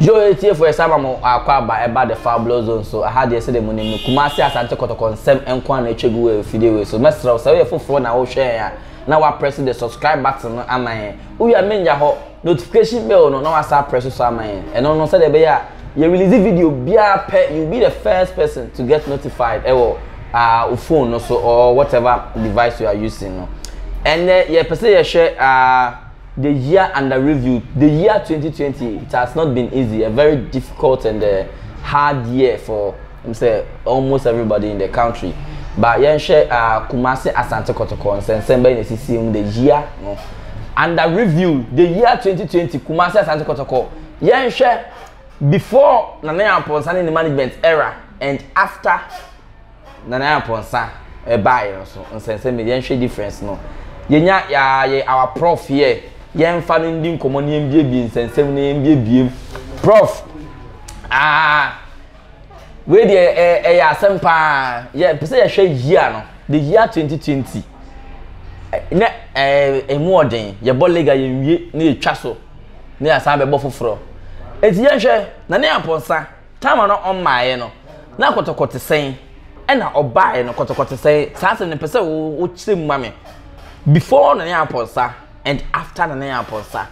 Yoo atiefo yɛsan ma mo akwaaba ɛba the fabuloso nso ɛha deɛ sɛdeɛ mo nim no Kumasi Asante kɔtɔkɔ nsɛm nkoa na atwa gu wɔ afidie wei so mɛsrɛ wo sɛ woyɛ foforɔ na wo hwɛ yɛn a na wa press the subscribe button no ama yɛn wowie a menya hɔ notification bell no na wa san press so ama yɛn ɛno no sɛdeɛ ɛbɛyɛ a yɛ release video biara pɛ you will be the first person to get notified ɛwɔ ah, wo phone no so or whatever device you are using no ɛnɛ yɛpɛ sɛ yɛhwɛ ah, The year under review, the year twenty twenty it has not been easy, a very difficult and a hard year for um, sɛ almost everybody in the country. But yɛnhwɛ uh, Kumasi Asante Kɔtɔkɔ nsɛnsɛm bɛyɛ na esisi mu the year no under review, the year twenty twenty Kumasi Asante Kɔtɔkɔ yɛnhwɛ before Nana Yampɔnsa ne ne management era and after. Nana Nyapɔnsa baeɛ no so nsɛnsɛm yɛn hwɛ difference no yɛnya yaa yɛ our prof yɛ yɛn fa no ndi nkɔmɔ na yɛn biebie nsɛnsɛm na yɛn biebiem prof aa wei deɛ ɛyɛ asɛm paa yɛ pɛsɛ yɛ hwɛ yia no the year 2020 na ɛmu ɔden yɛ bɔ lega yɛn wie na yɛ twa so na yɛ asan bɛ bɔ foforɔ eti yɛn hwɛ na ne apɔnsa. Time a na ɔmmaeɛ no, na kɔtɔkɔte sɛn? Ɛna ɔbaeɛ no, kɔtɔkɔte sɛn? Saa asɛm no pɛ sɛ wokyerɛ mu ma me. Before Nana Yaa Aponsa and after Nana Yaa Aponsa.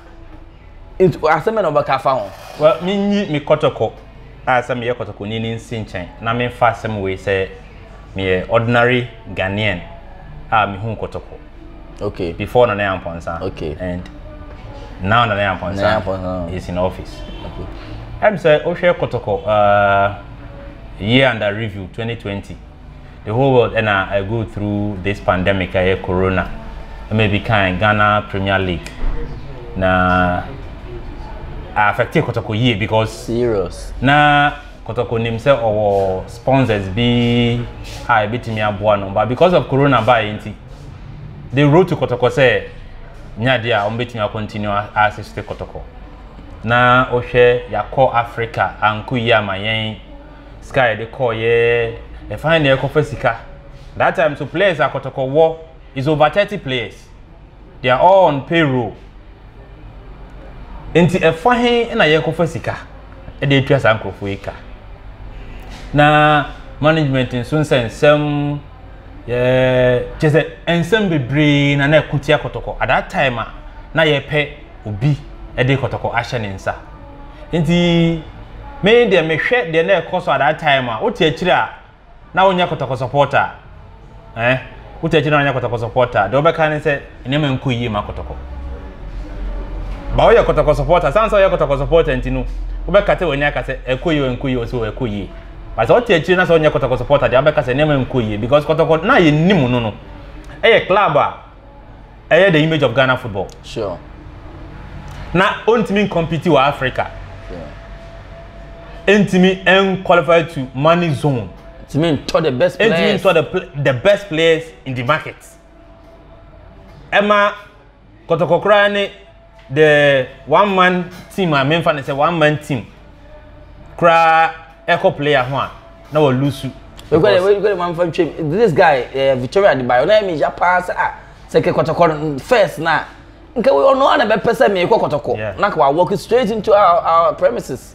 Nti asɛm bɛ na ɔbɛka afa ho. Well, menyi me kɔtɔkɔ a sɛ meyɛ kɔtɔkɔni no nsi nkyɛn na memfa asɛm wei sɛ meyɛ ordinary Ghanaian a mehuu kɔtɔkɔ. Okay. Before Nana Amponsa. Okay. And now Nana Amponsa, Nana Amponsa is in office. Okay. I'm say Oshe Kotoko, uh, year under review 2020. The whole world and I, I go through this pandemic, I hear corona. I may be kind Ghana Premier League. Now, I affected Kotoko year because serious. Now Kotoko nim sɛ ɔwɔ sponsors bi a ebetumi aboa no, but because of corona baeɛ nti, they wrote to Kotoko sɛ nya deɛ a wɔbɛtumi a continue assist Kotoko. Na wohwɛ yɛakɔ Africa anko yi ama yɛn sika a yɛde kɔɔyɛ ɛfan na yɛkɔfa sika. That time so players a Kotoko wɔ is over thirty players they are all on payroll nti ɛfa he na yɛkɔfa sika ɛde atua saa nkurɔfoɔ yi ka na management nso nsɛ nsɛm yɛ kyɛ sɛ nsɛm bebree na na ɛko tia kɔtɔkɔ at that time a na yɛpɛ obi ɛde kɔtɔkɔ ahyɛ ne nsa nti me deɛ mehwɛ deɛ na ɛkɔ so at that time a wote akyire a na wonyɛ kɔtɔkɔsɔ pɔɔta a ɛɛ wote akyire na wonyɛ kɔtɔkɔsɔ pɔɔta a deɛ ɔbɛka ne sɛ nneɛma nkɔ yie ma kɔtɔkɔ ba woyɛ kɔtɔkɔsɔ pɔɔta san sɛ ɔyɛ kɔtɔkɔsɔ pɔɔta nti no wobɛka sɛ w'ani aka sɛ ɛkɔ yie ɛnkɔ yie ɔsɛ wɔ ɛkɔ yie ba sɛ ɔte akyire na sɛ ɔnyɛ kɔtɔkɔsɔ pɔɔta deɛ ɔbɛka sɛ nneɛma nkɔ yie because kɔtɔkɔ na yɛ nim no no ɛyɛ club a ɛyɛ the image of ghana football sure. na ɔntumi ncompete wɔ africa ɛntumi yeah. nqualify to money zone ɛntumi ntɔ the best players ɛntumi ntɔ the, the best players in the market ɛma kɔtɔkɔkora ne The one man team a memfa no sɛ one man team koraa ɛkɔ player ho a na wɔ lusu. Because wei kɔ de manfa ntwam this guy uh, Victoria Adebayo na ɛmi ya paa sɛ ah sɛ kɛ kɔtɔkɔ first na nka ɔno a na bɛpɛ sɛ meekɔ kɔtɔkɔ na ka wa walk straight into our, our premises.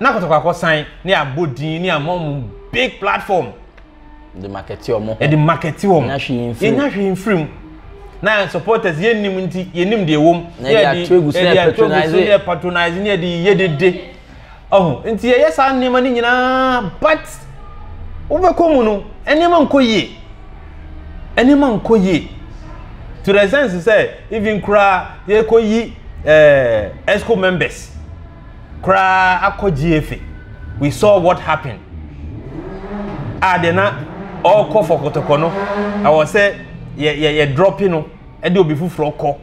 na kɔtɔkɔ akɔsan ne abɔ din ne ama wɔn big platform de markete wɔn ho de markete wɔn yɛnya hwee mfirim yɛnya hwee mfirim na yɛn supporters yɛnim nti yɛnim deɛ wɔm na yɛde ato egu so yɛ patronize yɛ patronize ne yɛde yɛ dede ɔho nti yɛyɛ saa nneɛma no nyinaa but wobɛkɔ mu no nneɛma nkɔ yie nneɛma nkɔ yie to the sense sɛ even koraa Yɛrekɔyi eh, EXCO members koraa akɔ GFA. We saw what happened. A ah, deɛ na ɔrekɔ fɔ kɔtɔkɔ no, ɛwɔ sɛ yɛ yɛ yɛ drɔpi no ɛde obi foforɔ kɔ.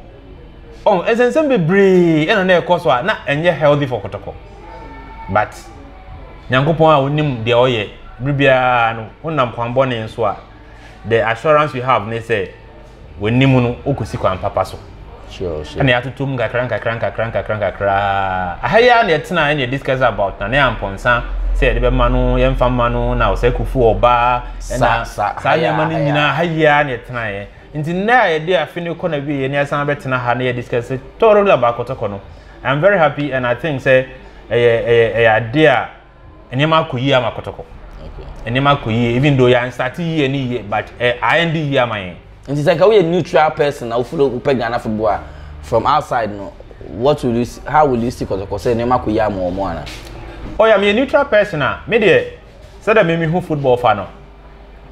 Ɔn oh, nsɛnsɛm bebree ɛna na ɛkɔ so a na ɛnyɛ healthy fɔ kɔtɔkɔ. But nyankopɔn a onim deɛ ɔyɛ biribiara no, wonam kwan bɔne nso a the assurance you have ne sɛ w'anim no wokɔsi kwan papa so ɛna yɛatoto mu kakra nkakra nkakra nkakra nkakra aha yi a na yɛtena ɛna discuss about na ne ampɔnsa sɛ yɛde bɛma no yɛmfa ma no na ɔsɛ kufu ɔbaa ɛna saa nneɛma no nyinaa aha yi a na yɛtenaeɛ nti nnɛ a yɛde afe no kɔ na wieɛ na yɛsan bɛtena ha na yɛ discuss tɔrɔ la baakɔtɔkɔ no i'm very happy and i think sɛ ɛyɛ ɛyɛ ɛyɛ adeɛ a nneɛma akɔ yie ama kɔtɔkɔ nneɛma akɔ yie even though yɛn nsate yie ne yie but ɛ ayɛn de yie ama yɛn. nti sɛ nka woyɛ neutral person na wofolo wopɛ ghana football a from outside no what will you see how will you see kɔtɔkɔ sɛ nneɛma akɔ yie ama wɔn ana. oh yeah meyɛ neutral person a me deɛ sɛdeɛ me mehu football fa no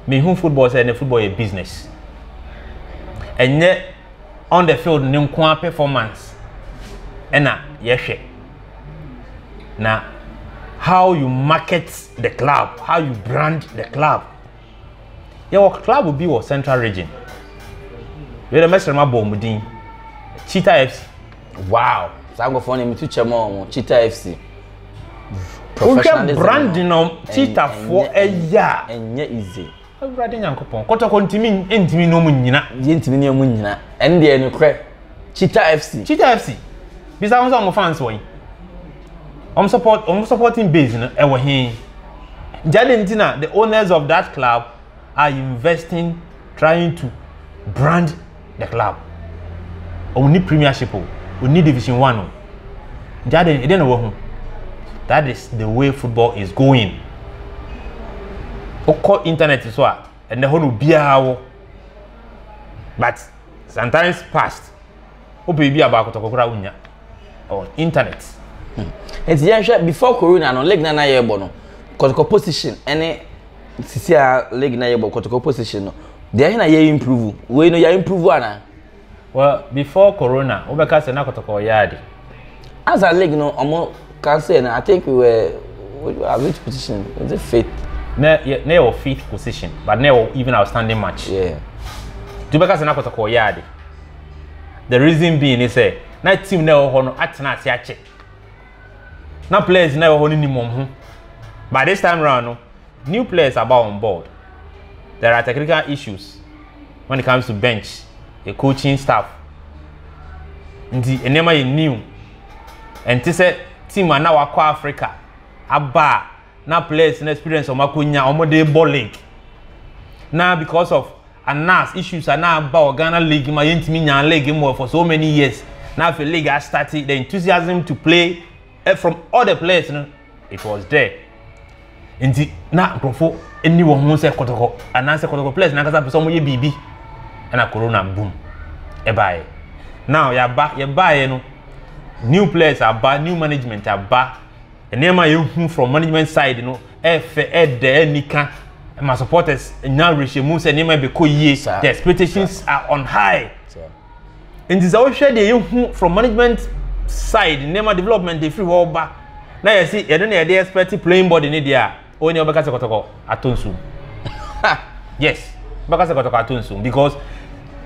mehu football sɛ ɛnɛ football yɛ business ɛnyɛ on the field ne nko ara performance ɛna yɛhwɛ. na how you market the club how you brand the club yɛwɔ club bi wɔ central region wei dɛ mɛsrɛ ma bɔ ɔmo din cheetah fc. wow saa nkɔfoɔ no metu kyɛ ma ɔmo cheetah fc wohwɛ branding no cheetahfoɔ ɛyɛ a ɛnyɛ easy Awurade Nyankopɔn, kɔtɔkɔ ntumi ntumi ne wɔn nnyina. Deɛ ntumi ne wɔn nnyina. Ɛno deɛ nokorɛ. Cheetah FC. Cheetah FC. Bisa wɔn sɛ wɔn fans wɔ yi. Wɔn support wɔn supporting base no ɛwɔ he. Nti adi nti na the owners of that club are investing trying to brand the club wɔn ni premiership o wɔn ni division one o jade ɛdɛ na wɔahu that is the way football is going wokɔ internet so a ɛnɛ hɔ na obiara wɔ but sometimes past wopɛ bi a baako tɔkɔ koraa wonya on internet. Hmm. nti yɛnhwɛ before corona no league na na yɛbɔ no kɔtɔkɔ position ɛne sisi a league na yɛbɔ kɔtɔkɔ position no deɛ ɛhe na yɛ improve wei no yɛ improve ana. well before corona wobɛka sɛ na kɔtɔkɔ yɛ ade. as a league no ɔmo kan sɛ no i think we were at which position was it fifth. na yɛ na yɛ wɔ fifth position but na yɛ wɔ even outstanding match. Yeah. nti wobɛka sɛ na kɔtɔkɔ yɛ ade the reason being ne sɛ na team na ɛwɔ hɔ no atena ase akyɛ. na players na ɛwɔ hɔ no nim wɔn ho but this time round no new players aba on board there are technical issues when it comes to bench the coaching staff nti nneɛma yɛ new ɛnte sɛ team a na wakɔ africa aba a na players no experience wɔn akɔnya wɔn de bɔ league na because of anas issues ana aba wɔ ghana league ma yɛntumi nya league mu for so many years na afei league astarte the enthusiasm to play eh, from all the players no it was there nti na nkurɔfo ni wɔn ho sɛ kɔtɔkɔ anaasɛ kɔtɔkɔ players na ankasa pɛ sɛ wɔyɛ biribi ɛna corona boom ɛbaeɛ now yɛaba yɛbaeɛ no new players aba new management aba nneɛma a yɛhu from management side no ɛfɛ ɛdɛ ɛnika ɛma supporters nya awerɛhyɛmu sɛ nneɛma ɛbɛkɔ yie the expectations are on high nti sɛ wohwɛ deɛ yɛhu from management side nneɛma development ɛfiri hɔ ba na yɛsi yɛde na yɛde expect playing body ne deɛ a Wo ne ɔbɛka sɛ kɔtɔkɔ atɔ nsuom. yes, ɔbɛka sɛ kɔtɔkɔ atɔ nsuom because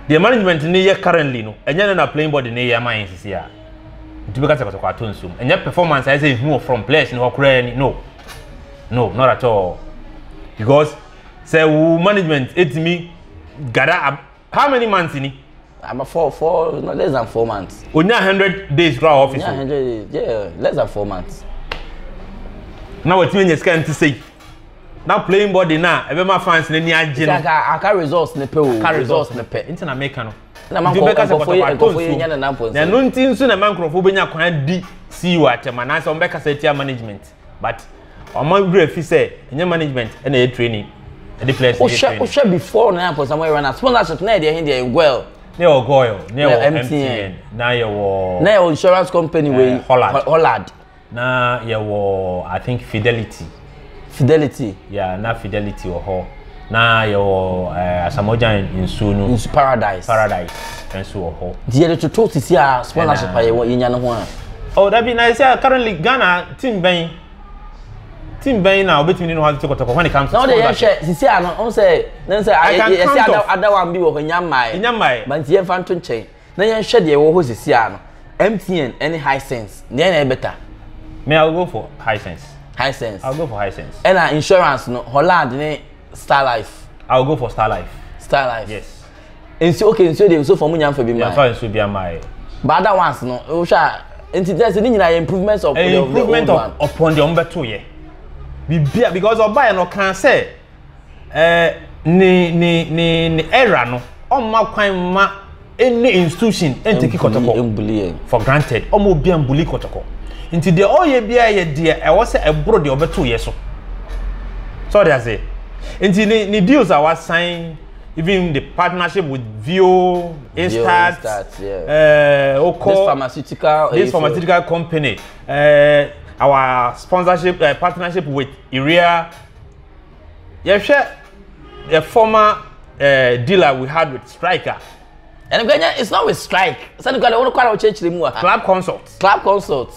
the management ne yɛ currently no, ɛnyɛ no na playing body ne yɛ ama yɛn sisi a. Nti bɛka sɛ kɔtɔkɔ atɔ nsuom. Ɛnyɛ performance ayɛ sɛ ehu wɔ from players ne hɔ koraa ni. No. No, not at all. Because sɛ wo management etimi gada How many months ni? About four, four, no, less than four months. Onya hundred days kura office. Onya hundred days, yeah, less than four months. Na watumi anya sika nti sei. Na playing body na ebe ma fans na ni agye no. Aka aka results ne pe o. Aka results ne pe. Nti na make no. Na man ko ka ko ye ko ye nya na na pon. Na no nti nso na man ko be nya kwan di CEO atema na se on be ka se tia management. but wɔn awura fi sɛ ɛnyɛ management ɛna ɛyɛ training ɛde players ɛyɛ training. wohwɛ wohwɛ before na yɛn pɔsam ɛyɛ run out sponsorship na yɛ deɛ ɛhe deɛ yɛ goil. na yɛ wɔ goil na yɛ wɔ mtn na yɛ wɔ. na yɛ wɔ insurance company wei eh, hollard hollard. na yɛ wɔ i think fidelity. fidelity. yeah na fidelity wɔ hɔ. na yɛwɔ eh, asamogyan nsuo no nsu paradise paradise nso wɔ hɔ nti yɛde toto sisi a scholarship a yɛwɔ yɛnya no ho a oh dabi na ɛsɛ currently ghana team bɛn team bɛn na obetumi ne no ho atete kɔtɔkɔ when it comes to scholarship na ɔde yɛhwɛ sisi a no ɔn sɛ ne sɛ yɛsɛ adawa bi wɔ hɔ nya mmae nya mmae ba nti yɛmfa nto nkyɛn Na yɛnhwɛ deɛ ɛwɔ hɔ sisi a no, MTN ɛne Hisense, deɛ na ɛyɛ better? Me I will go for Hisense. Hisense. I will go for Hisense. Ɛna insurance no, Holland ne Star Life. I will go for Star Life. Star Life. Yes. Nsuo okay nsuo deɛ nsuo fam nyamfa bi maa. Nyamfa nsuo bi ama yɛ. But other ones no, wohwɛ a nti tẹ sẹ ne nyinaa yɛ improvement of the old one. improvement upon the ɔmo bɛ to yɛ biribi a because ɔba yɛ no kan sɛ. ɛɛ ne ne ne ne era no ɔmma kwan mma ɛne institution ɛnteki kɔtɔkɔ for granted ɔmma obi a mbuli kɔtɔkɔ nti deɛ ɔyɛ biara yɛ deɛ ɛwɔ sɛ ɛboro deɛ ɔbɛto yɛ so sɛ ɔde ase nti ne ne deals a wasan even the partnership with Vio, Instat, Instat yeah. uh, Oko, this pharmaceutical, this pharmaceutical company, uh, our sponsorship uh, partnership with Iria yɛhwɛ the former uh, dealer we had with strike a. ɛnni kò ɛnyɛ it's not with strike sani kò ɛdɛ wɔn kò ara ɔkyerɛkyerɛ mu wɔ ha. club consult. club consult.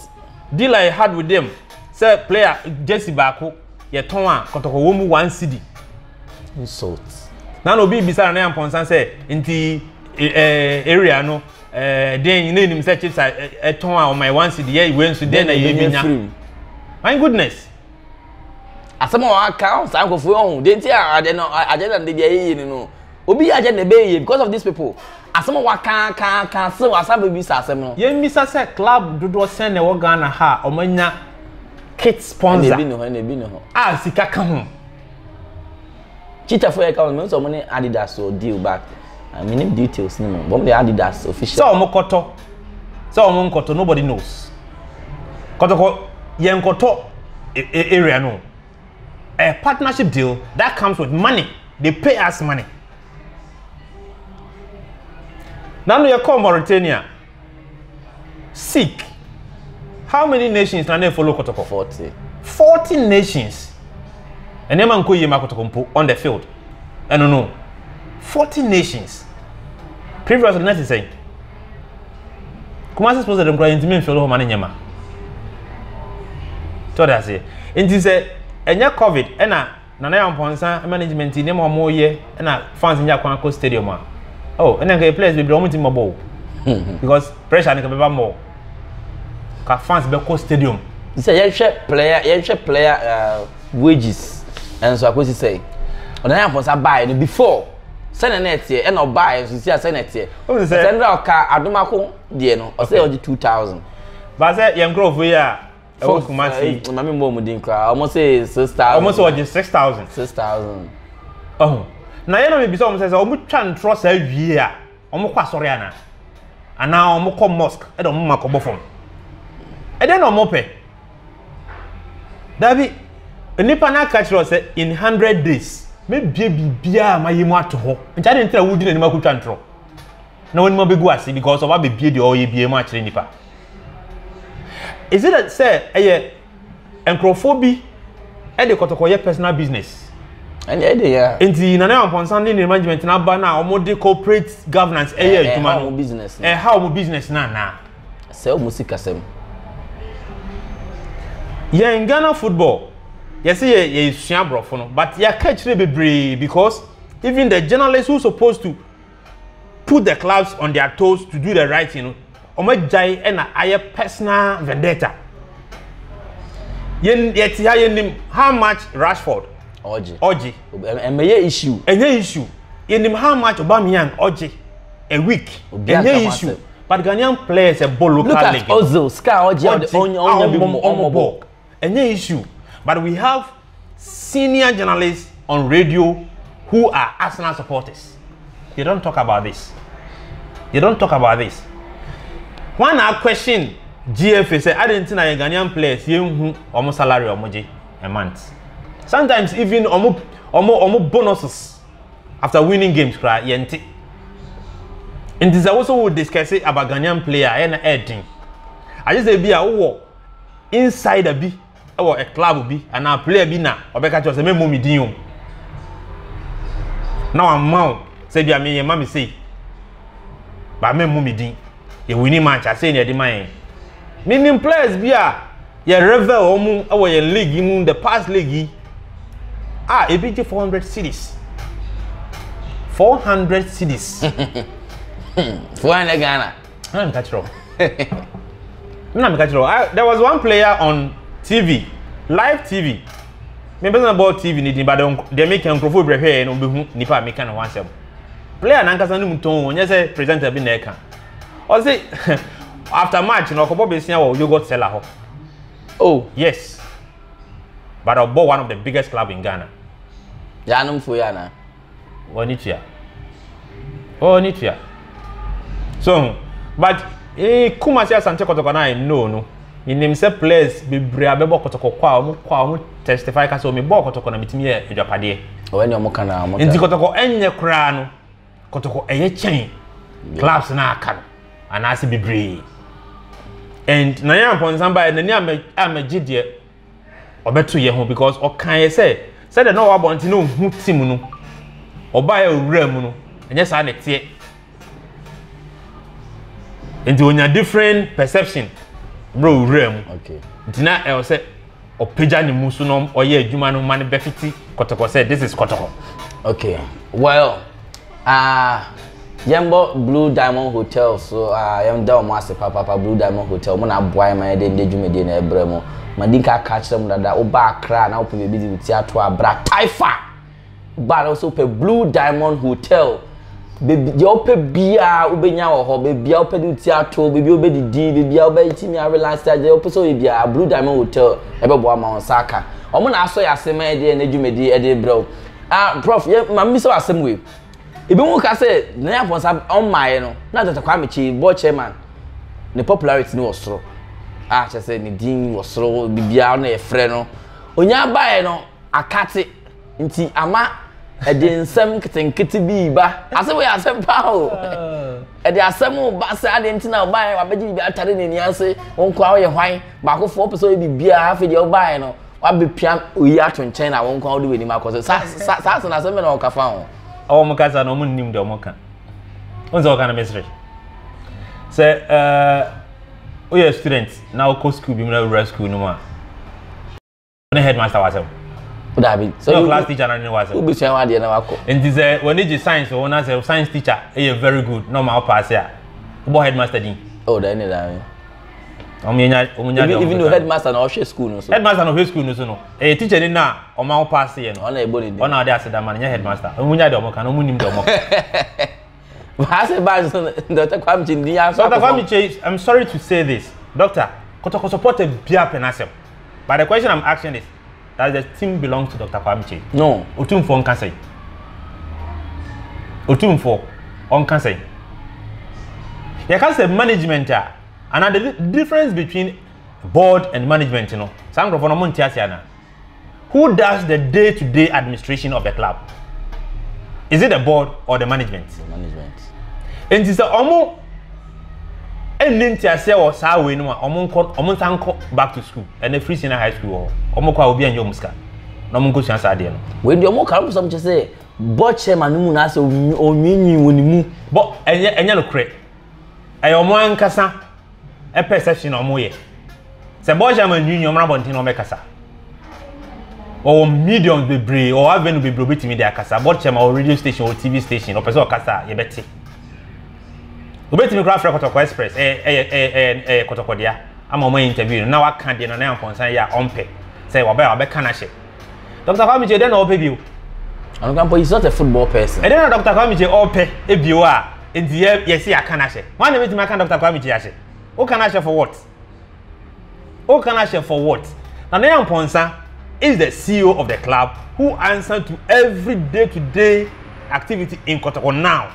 dealer yɛ had with them sɛ player jersey baako yɛ tɔn a kɔtɔkɔ wɔn mu one cd. insult. na na obi bisa na yɛ mpɔnsa sɛ nti ɛɛ eh, eh, area no ɛɛ eh, den ne nim sɛ chips a ɛtɔn a ɔmɔ yɛ one cd yɛ iwe nso den na yɛ bi nya. my goodness. asɛm a wɔaka ɔn saa nkurɔfoɔ yi ɔho deɛ nti a adeɛ no agenda no de bi a yɛyɛ ni no obi yɛ agenda ɛbɛyɛ yie because of these people asɛm a wɔaka ka ka se wɔasa bɛbisa asɛm no. yɛn mmisa sɛ club dodoɔ sɛn na ɛwɔ Ghana ha a wɔn anya kit sponsor ɛna ebi ne hɔ ɛna ebi ne hɔ a sika ka ho. Cheetah fo yɛ ka wɔn, mehu sɛ wɔn ne Adidas wɔ deal but uh, menim details no mu. Wɔn de Adidas official. Sɛ wɔn kɔtɔ, sɛ wɔn nkɔtɔ, nobody knows. Kɔtɔkɔ, yɛn kɔtɔ e, e, area no. A partnership deal that comes with money, they pay us money. Nanu yɛ kɔɔ Mauritania, Seek. How many nations na na efolo kotoko? Forty. Forty nations. Nneɛma nkɔ yie ma kotoko mpo on the field. Ɛno no. Forty nations. Previously na ti sɛn. Kumasi sports ɛdɛm kura yɛn ntumi nfɛlo hɔ ma ne nyɛ ma. Tɔɔ de aseɛ. Nti sɛ ɛnyɛ covid ɛna. Nana Yampɔnsa management nneɛma wɔn reyɛ ɛna fans nya kwan kɔ stadium a oh ɛna nka players bebree wɔn ti mɔ bɔ o because pressure nka bɛba mɔ ka fans bɛkɔ stadium. sɛ yɛhwɛ player yɛhwɛ player uh, wages ɛnso akɔsi sɛ ɔna yɛ afɔnsa baeɛ no before sɛnɛ na ɛteɛ ɛna ɔbaeɛ nso si a sɛnɛ ɛteɛ ɔsɛ ndra ɔka adomako deɛ no ɔsɛ ɔgye two thousand. baasɛ yɛn nkurɔfoɔ yi a ɛwɔ kumasi. Eh, eh, maame mbɔ wɔn din koraa wɔn sɛ six thousand. wɔn sɛ wɔgye six thousand. six thousand. ɔhun na yɛn na mi bisa wɔn sɛ sɛ wɔn twa ntorɔ saa wie a wɔn kɔ asɔre ana anaa wɔn kɔ mosque ɛna wɔn ma kɔ bɔ fam ɛdɛ na wɔn pɛ dabi nipa na aka kyerɛ sɛ in hundred days me bie biribiara a ma yɛ mu ato hɔ nkyɛn de n tira wudi n'anim akutwa ntorɔ na wɔn anim abɛgu ase because ɔba bɛbie deɛ ɔyɛ bie mu akyerɛ nipa. Is it sɛ ɛyɛ nkurɔfoɔ bi de kɔtɔkɔ yɛ personal business? ɛnyɛ ɛde yɛ a. nti nana ampɔnsa ne ne management no aba no a wɔde corporate governance ɛyɛ adwuma no ɛha wɔn business no anaa sɛ wɔn sikasɛm yɛn ghana football yɛsɛ yɛ yɛsua aborɔfo no but yɛaka akyire bebree because even the journalists who supposed to put the clubs on their toes to do the right thing no wɔn agyae ɛna ayɛ personal vendetta yɛn yɛte ha yɛnim how much rashford ɔgye ɔgye ɛmɛyɛ issue ɛnyɛ issue yɛnim how much obamian ɔgye a week ɛnyɛ issue but ghanaian players ɛbɔ local league look at ozil scar ɔgye ɔgye ɔnya bi mu ɔmo bɔ Ɛnyɛ issue but we have senior journalists on radio who are Arsenal supporters. They don't talk about this. They don't talk about this. When I question GFA say I didn't know Ghanaian players yɛn hu wɔn salary wɔn gye a month. Sometimes even wɔn wɔn wɔn bonuses after winning games kura yɛn ti. Nti sɛ woso wo discuss about Ghanaian player ɛyɛ na ɛɛdin. Agye sɛ bi a wowɔ insider bi wɔ a club bi anaa player bi na ɔbɛka kyerɛ sɛ mɛmmɔ me din o na wamma o sɛ bia meyɛ ma me sei ba mɛmmɔ me din yɛwini match asei na ɛde ma yɛn menim players bi a yɛ revel wɔn mu wɔ yɛn league yi mu the past league yi a ebi gye 400 series 400 series 400 Ghana ɛna meka kyerɛ wo ɛna meka kyerɛ wo there was one player on tv live tv me pɛ sɛ mebɔ tv ne din ba deɛ meka nkurɔfoɔ brɛ hwɛɛ no wobɛhu nnipa a meka ne ho asɛm player nankasa no mu tɔn ɔnyɛ sɛ presenter bi na ɛka ɔse after match no ɔkɔbɔ besia wɔ yogurt seller hɔ oh yes but ɔbɔ one of the biggest club in ghana yɛanomfoɔ yi anaa Ɔwɔ ne tua. Ɔwɔ ne tua. So ho. But ee Kumasi Asante Kɔtɔkɔ na I know no. Menim sɛ players bebree a bɛbɔ Kɔtɔkɔ kɔ a wɔn kɔ a wɔn testify ka sɛ wɔn bɔɔ Kɔtɔkɔ na metumi yɛ adwapadeɛ. Ɔwɔ ne wɔn ka na wɔn. Nti Kɔtɔkɔ ɛnyɛ koraa no. Kɔtɔkɔ ɛyɛ kyɛn clubs na aka no anaasɛ bebree. And na yɛn apɔnsan baa yɛ n'ani amɛ amɛgye deɛ. ɔbɛto yɛ ho because ɔkan yɛ sɛ sɛdeɛ na ɔwɔ abɔnten na ɔhu tim no ɔbaeɛ owura mu no ɛnyɛ saa na ɛteɛ nti onya different perception mmerɛ owura mu okay. nti na ɛwɔ sɛ ɔpagya ne mu so na ɔyɛ adwuma no ma no bɛfiti kɔtɔkɔ sɛ this is kɔtɔkɔ okay well Aah yɛmbɔ blue diamond hotel so aah yɛda ɔmo ase papaapa blue diamond hotel ɔmo na aboa yɛn ma yɛde ndɛ dwumadie na ɛbrɛ mo madi nka aka akyerɛ mo dada woba akra a na wopɛ baabi de woti ato a bra taifa ba na wosɛ wopɛ blue diamond hotel bebi deɛ wopɛ biara wobɛnya wɔ hɔ bebi a wopɛ de woti ato bebi a wobɛdidi bebi a wobɛtumi arelax deɛ wopɛ sɛ ɔyɛ biara blue diamond hotel ɛbɛboa ma wɔn nsa aka ɔmo na asɔ yɛ ase ma yɛde yɛn dwumadie ɛde brɛ wo Ah, prɔf, yɛ ma mbisa wo asɛm wei. Ebinom ka sɛ Nana Afonsa ɔmmaeɛ no, na Dɔkta Kwame Kyei, board chairman, ne popularity no wɔ soro. Ah, kyerɛ sɛ ne din wɔ soro, biribiara na yɛfrɛ no. Onyaa baeɛ no, akate nti ama ɛde nsɛm nketenkete bi ba. Asɛm wei yɛ asɛm paa o. Ɛde asɛm ba sɛ adeɛ nti na ɔbaeɛ, wabɛgye biribi atare n'ani ase, wo nkoa woyɛ hwan, baakofoɔ wopɛ sɛ ɔyɛ biribiara, afei deɛ wobaeɛ no, wabɛpia oyi ato nkyɛn na wɔn kwan wode w'anim akɔ so saa saa saa so na asɛm na ɔka fa ho. ɔwɔ mo kasa na ɔmo nnim deɛ ɔmo ka ɔn sɛ ɔka no mesere sɛ ɛɛ woyɛ student na wokɔ sukuu bi mu na wura sukuu no mu a ne headmaster wɔ asɛm dabi sɛ wo class teacher na ne wɔ asɛm wobɛsua wadeɛ na wakɔ nti sɛ wɔne gye science wɔ na sɛ science teacher yɛ very good na ɔma wopɛ ase a wobɔ headmaster din oh da ne da ɔmo yɛ nya ɔmo nya deɛ ɔmo even though headmaster na ɔhwɛ school no so headmaster na ɔhwɛ school no so no ɛyɛ teacher ni na ɔmo aho paase yɛ no ɔna ɛbɔ ne din ɔna ɔde asedama no nyɛ headmaster ɔmo nya deɛ ɔmo ka na ɔmo nim deɛ ɔmo ka baase baase so dɔkta kwame kye ni aso dɔkta kwame kye i'm sorry to say this doctor kɔtɔkɔtɔ pɔtɛ bia pɛ n'asɛm but the question i'm asking is That the team belongs to Dr. Kwame Kyei. No. Otumfoɔ nka sɛn? Otumfoɔ ɔnka sɛn? Yɛka sɛ management a anaa the difference between board and management no saa nkurɔfoɔ no ɔmo nte ase ana? Who does the day to day administration of the club? Is it the board or the management? The management. Nti sɛ ɔmo ɛnni nteaseɛ wɔ saa wei no mu a wɔn nkɔ wɔn nsa nkɔ back to school ɛnna free senior high school wɔ hɔ wɔn kɔ a obi anyɛ wɔn sika na wɔn nkɔ sua saa adeɛ no. wei deɛ wɔn kare sɔm kyɛ sɛ bɔ chairman no mu na asɛ onwinwin wɔ ne mu. bɔ ɛnyɛ ɛnyɛ no korɛ ɛyɛ wɔn ankasa ɛpɛ sɛsi na wɔn yɛ sɛ bɔ chairman nwinwin wɔn abɔnten na wɔn bɛkasa wɔwɔ mediums bebree wɔwɔ avenue bebree obetumi de akasa bɔ chairman wɔ radio station wɔ tv station ɔpɛ sɛ ɔkasa a yɛbɛte. wobɛtumi koraa frɛ kɔtɔkɔ express ɛyɛ eh, ɛyɛ eh, ɛyɛ eh, ɛyɛ kɔtɔkɔdea ama wɔn interview no na waka deɛ nana yankɔnsan yɛ a ɔmpɛ sɛ wɔbɛ a wɔbɛka no ahyɛ dr kwame kye dɛn na ɔpɛ bio ɔnkampo he's not a football person ɛdɛn na dr kwame kye ɔpɛ ebio a nti yɛ yɛsi aka no ahyɛ wɔn na bɛtumi aka dr kwame kye ahyɛ woka no ahyɛ for what o kan ahyɛ for what nana yampɔnsa is the ceo of the club who answer to every day to day activity in kɔtɔkɔ now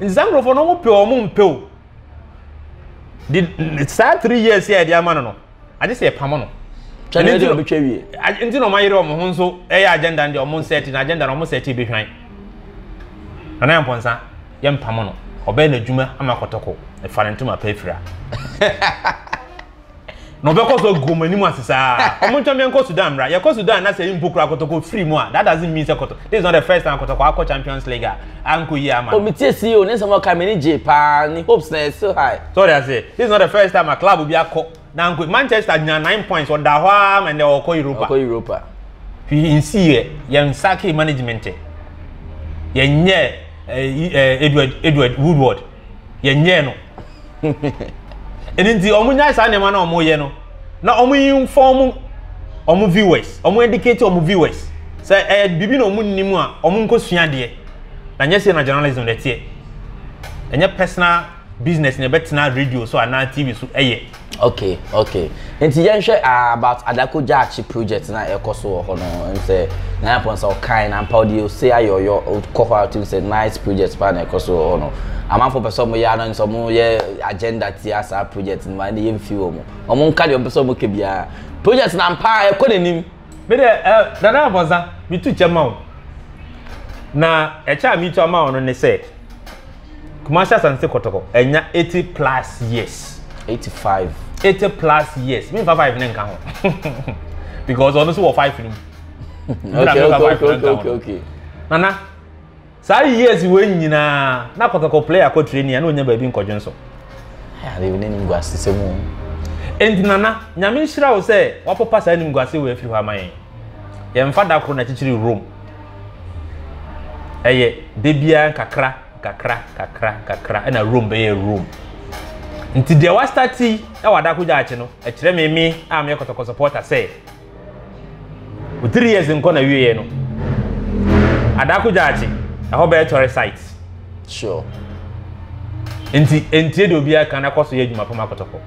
nti saa nkurɔfoɔ no wɔn pɛ wɔn mpɛ o de saa three years yɛ ɛde ama no no agye sɛ ɛpam no twɛne ɛde ɔbɛtwa wie nti na wɔn ayere wɔn ho nso ɛyɛ agenda no deɛ wɔn nsɛte na agenda na wɔn nsɛte bɛhwan nana yampɔnsa. yɛmpam no ɔbɛyɛ n'adwuma ama kɔtɔkɔ ɛfa ne ntoma pɛ afira na ɔbɛkɔ so agu wɔn anim ase saa wɔn ntwa mmea nkɔ sudan mmra yɛkɔ sudan na sɛ yɛn mpo kura kɔtɔkɔ firi mu a that doesn't mean sɛ kɔtɔ this is not the first time kɔtɔkɔ akɔ champions league a ankɔ yie ama. omi tie si o ne nsɛm ɔka mi ni gye paa ni hopes na yɛ still high. sɔɔri ase this is not the first time a club bi akɔ. Nanko Manchester nya nine points ɔda hɔ ara ma ndɛ ɔkɔ Europa. Ɔkɔ Europa. Fi nsi yɛ yɛn saki management yɛn nyɛ Edward Edward Woodward yɛn nyɛ no. Ɛni nti ɔmo nya saa nneɛma na ɔmo yɛ no na ɔmo inform ɔmo viewers ɔmo educate ɔmo viewers sɛ ɛyɛ biribi na ɔmo nnim a ɔmo nkɔ sua deɛ na nyɛ sɛ na journalism na ɛteɛ ɛnyɛ personal business na ɛbɛtena radio so anaa tv so ɛyɛ. okay okay nti yɛnhwɛ uh, ah, about adako gyaakye project na ɛkɔ so wɔ hɔ no nsɛ na yɛpɔn sɛ ɔkan na mpa ɔde ose ayɛ ɔyɔ ɔkɔ hɔ atum sɛ nice project paa na ɛkɔ so wɔ hɔ no amanfo pɛ sɛ ɔmo yɛ ano nsɛ ɔmo yɛ agenda tia saa project no ma ɛna yɛn fi wɔ mo ɔmo nka deɛ ɔmo pɛ sɛ ɔmo kɛ biara project na mpa ɛkɔ n'anim. Me deɛ ɛ eh, Nana Abɔnsa, metu kyɛ ma wo. Na ɛkyɛ a metu ama wo no ne sɛ, Kumasi Asante Kɔtɔkɔ, ɛnya 80 plus years. 85. 80 plus years. Memfa 5 ne nka ho. Because ɔno nso wɔ 5 no mu. okay, okay, okay, okay, okay. Nana, Saa years wei nyinaa na kɔkɛkɔ play akɔ training a na onya baabi nkɔdwen so. Ɛyà baabi ne nimguase sɛ mu. Enti nana, nyame nhyira wo sɛ wapopa saa nimguase wei afiri hɔ ama yɛn. Yɛmfa da koro na kyekyere Rome. Ɛyɛ da biara nkakra nkakra nkakra nkakra ɛna Rome bɛyɛ Rome. Nti deɛ wastarti ɛwɔ adako gyaakye no ɛkyerɛ me me a meyɛ kɔtɔkɔ supporter sɛ wo three years nkɔ na wieɛ no adako gyaakye ɛhɔ bɛyɛ tɔre site sure nti ntie de obi aka na kɔ so yɛ adwuma pam akɔtɔkɔ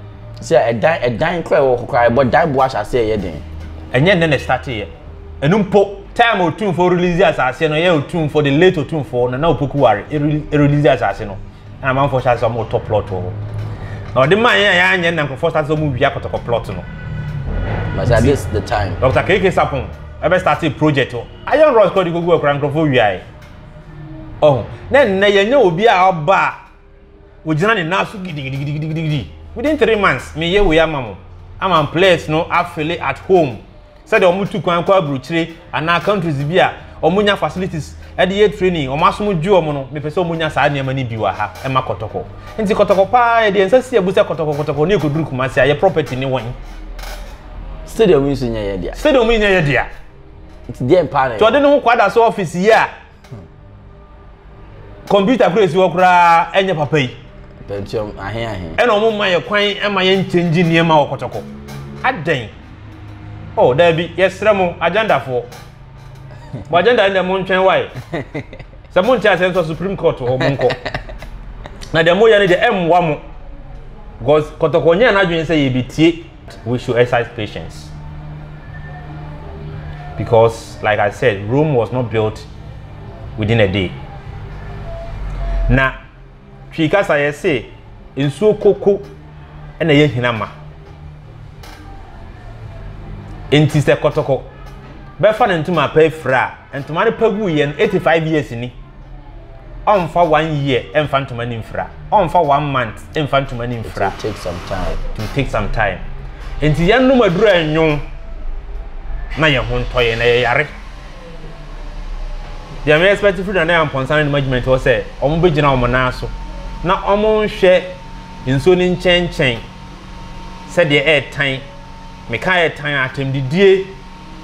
sɛ ɛdan ɛdan kora ɛwɔ kokora ɛbɔ dan bo ahyɛ ase ɛyɛ den ɛnyɛ nnɛ na ɛstate yɛ ɛno mpo time otumfo release asase no yɛ otumfo de late otumfo na na opoku ware release asase no na amanfoɔ hyɛ ase sɛ wɔn retɔ plot wɔ hɔ na ɔde maa yɛn a yɛanyɛ na nkurɔfoɔ hyɛ ase sɛ wɔn wia kɔtɔkɔ plot no. But at this the time. Dr. Keke Sapon ɛbɛ start a project wɔ Iron Rods kɔɔ de kɔgu akora nkurɔfoɔ wia yɛ. Ɔho na nnɛ yɛnyɛ obi a ɔba a ogyina ne nan so gidigidigidigidi within three months meyɛ wei ama mo ama plot no afele at home. sɛdeɛ wɔn tu kwan kɔ aburukyire anaa countries bi a wɔn nya facilities ɛde yɛ training wɔn asom dwi wɔn no mepɛ sɛ wɔn nya saa nneɛma no bi wɔ ha ɛma kɔtɔkɔ nti kɔtɔkɔ paa yɛ deɛ nsa si abu sɛ kɔtɔkɔ kɔtɔkɔ ne ekoduru kumasi a yɛ property ne wɔn. stadium yi nso nyɛ yɛ dea. stadium yi nyɛ yɛ dea. nti deɛ mpaa na yɛ. tɔde ne ho kwada so office yi a. kɔmputa kura esi hɔ koraa ɛnyɛ papa yi. pentium ahe ahe. ɛna wɔn mma yɛ kwan ɛma yɛn nkyɛngye nneɛma wɔ kɔtɔkɔ adɛn oh daabi yɛsrɛ mo agendafoɔ mo agenda no dɛ mo ntwɛn wae sɛ mo nte asɛm sɛ supreme court hɔ mo nkɔ na deɛ mo yɛ no deɛ ɛmmoa mo because kɔtɔkɔ nyɛ n'adwene sɛ yɛbɛtie We should exercise patience because like I said, Rome was not built within a day. Na twi kasa yɛ se nsuo koko na yɛ hina ma. Nti sɛ kɔtɔkɔ bɛfa ne ntoma pa afira a, ntoma no pa gu yɛ no 85 years ni. ɔmfa one year mfa ntoma no mfira ɔmfa one month mfa ntoma no mfira it take some time it will take some time nti yɛn nom aduru anwo na yɛn ho ntɔ yɛn na yɛyare deɛ mɛ expect firi na na yɛ mpɔnsa no ne management hɔ sɛ wɔn bɛgyina wɔn nan so na wɔn nhwɛ nsuo no nkyɛnkyɛn sɛdeɛ ɛretan meka ɛretan atɛmdidie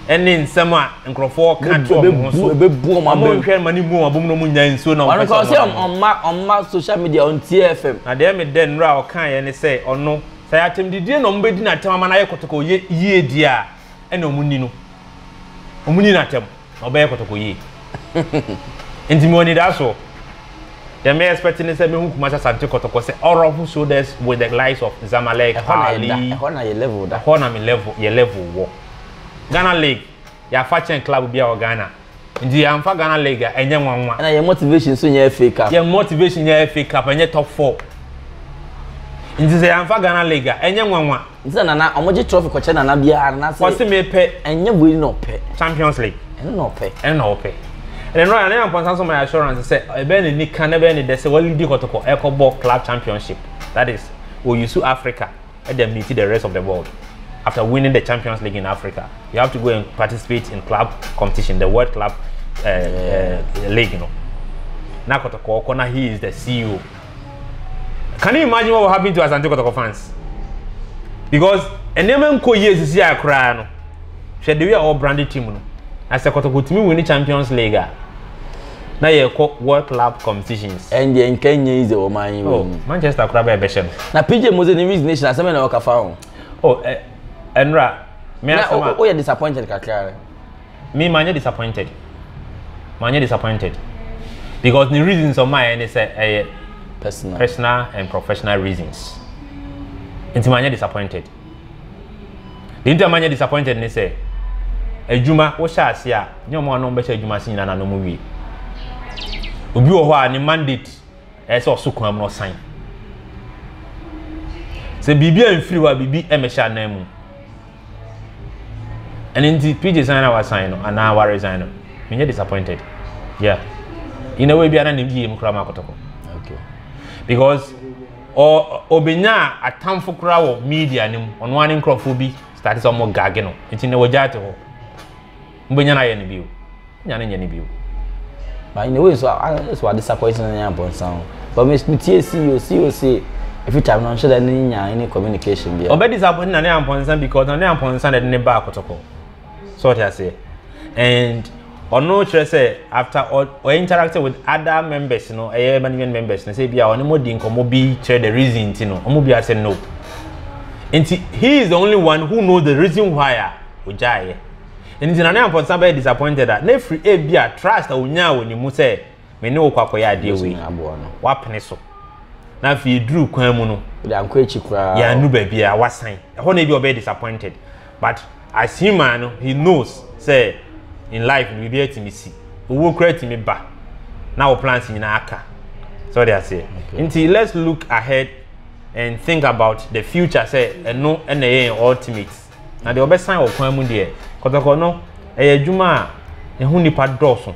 ɛne nsɛm a nkurɔfoɔ ka to wɔn ho so wɔn nhwɛ ma ne mu wɔn abom na wɔn nya nsuo na wɔn pɛ sɛ wɔn mma ɔmma social media wɔn tie fm. na deɛ me dɛ nnura a ɔka yɛ ne sɛ ɔno sɛ yɛ atɛm didie na wɔn bɛ di na atɛm ama na ayɛ kɔtɔkɔ yɛ yie die a ɛna wɔn ni no wɔn ni na atɛm na ɔbɛyɛ kɔtɔkɔ yie nti mi wɔ ni da so deɛ me expect ne sɛ mehu kumasa sante kɔtɔkɔ sɛ ɔrɔ ho so des with the likes of zamalek ali ɛhɔ na yɛ level da ɛhɔ na me level yɛ level wɔ. Ghana League yɛ afa kyɛn club biara wɔ Ghana. Nti yɛamfa Ghana League a, ɛnyɛ nwanwa. Ɛna yɛn motivation nso nyɛ FA Cup. Yɛn motivation nyɛ FA Cup, ɛnyɛ top four. Nti sɛ yɛamfa Ghana League a, ɛnyɛ nwanwa. Nti na Nana, wɔgye trophy kɔkyɛ Nana biara na sɛ. Wɔse mepɛ. Ɛnyɛ wei na ɔpɛ. Champions League. Ɛno na ɔpɛ. Ɛno na ɔpɛ. Ɛna no Nana Amponsah nso ma yɛ assurance sɛ ɛbɛyɛ ne nika na ɛbɛyɛ ne dɛ sɛ wɔlidi kɔtɔkɔ ɛkɔbɔ club championship. That is, wɔyusu Africa. Dɛm ntsi the rest of the world after winning the champions league in Africa you have to go and participate in club competition the world club uh, uh, league no na kɔtɔkɔ kɔ na he is the CEO can you imagine what will happen to Asante Kɔtɔkɔ fans because nneɛma nkɔ yie sisi a koraa no hwɛ de wi a ɔwɔ branded team no na sɛ kɔtɔkɔ tumi win champions league a. na yɛkɔ world club competitions. ɛndeɛ nka nyɛ yi dze wɔn anyi wɔ mu. manchester kora bɛyɛ bɛhyɛ no. na pj mo dze ne resignation asɛm bɛ na ɔka fa ho. o ɛ ɛnura. mi asɛm a o yɛ disappointed kakra rɛ. mi ma nyɛ disappointed ma nyɛ disappointed because ne reasons ɔmo ayɛ ne sɛ ɛyɛ personal personal and professional reasons nti ma nyɛ disappointed. Deɛ nti a manyɛ disappointed ne sɛ, adwuma wohyɛ ase a, nyɛ wɔn a na wɔbɛhyɛ adwuma ase nyinaa na na wɔwie. Obi wɔ hɔ a ne mandate ɛyɛ sɛ ɔso kwan mu na ɔsan. Sɛ biribi a mfiri hɔ a biribi mmɛhyɛ anan mu. Ɛno nti PJ san na wasan no anaa waresan no, menyɛ disappointed. Yeah. In a way bi a na ne yie mu koraa ma akɔtɔkɔ. Okay. Because Ɔ obenyaa atamfo koraa wɔ media no mu. Ɔno ara ne nkurɔfoɔ bi starte sɛ wɔn gage no. Nti na wɔgyaa te hɔ. Mobɛnya no ayɛ no bio. Nya no nyɛ no bio. But in a way so ayɛ so ade sakɔ ɛsɛ nyɛ abɔnsan o. But me me tie CEO CEO se every time na nhyɛ da ne nya any communication bia. Ɔbɛdi sa na ne ampɔnsa because na ne ampɔnsa na ɛde ne baa kɔtɔkɔ. so ɔte aseɛ and ɔno kyerɛ sɛ after ɔ ɔ interact with other members no ɛyɛ management members no sɛ ebi a ɔne mo di nkɔmɔ bi kyerɛ the reason ti no ɔmo bi asɛ no nti he is the only one who know the reason why a ogyaeɛ nti na ne ampɔnsa bɛyɛ disappointed a na efiri ebi a trust a onyaa wɔ ne mu sɛ. me ne wo kɔ akɔyɛ adeɛ wei wapene so na afei yɛduru kwan mu no yɛanu baabi a wasan ɛhɔ na ebi ɔbɛyɛ disappointed but as human no he knows sɛ in life no biribi atumi si owuo kora atumi ba na wo plans nyinaa aka sɛ ɔde aseɛ nti let's look ahead and think about the future sɛ ɛno ɛna ɛyɛ ultimate Na deɛ ɔbɛsan wɔ kwan mu deɛ, kɔtɔkɔ no, ɛyɛ adwuma a ɛho nnipa dɔɔso.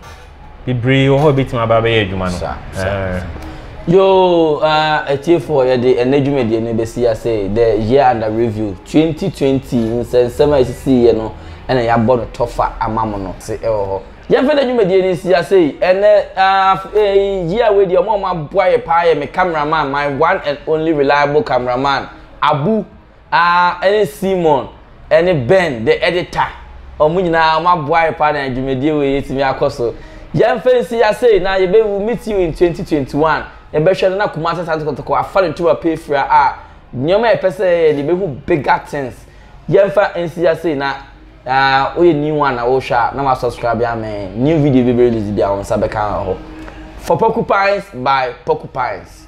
Bebree wɔ hɔ a ɛbɛtumi aba bɛyɛ adwuma no. Sa, sa, eh. sa. Yo, uh, atiefoɔ, yɛde ɛnɛ dwumadie no bɛsi ase The Year Under Review 2020 nsɛnsɛm a ɛsisiiɛ no na yɛabɔ no tɔfa ama mo no se ɛwɔ hɔ. Yɛmfa ɛnɛ dwumadie no nsi ase yi, ɛnɛ, uh, eh, year wei deɛ, wɔn a wɔaboa yɛ paa yɛ me cameraman, my one and only reliable cameraman, Abu, A ne Simon ne Ben the editor wɔn nyinaa wɔn aboae paa na dwumadie wei atumi akɔ so. Yɛn mfa nsi ya sei na yɛbɛ will meet you in 2021 yɛn bɛ hwɛ no na Kumasi Asante Kotoko afa ne tuma pɛ afira a nneɛma a yɛpɛ sɛ yɛyɛ no yɛbɛ hu bigger things. Yɛn mfa nsi ya sei na a wo yɛ new one na wo hwɛ a na wa subscribe amɛn new video bɛ bɛ release bia wɔn nsa bɛ ka wɔ hɔ. For Porcupines by Porcupines.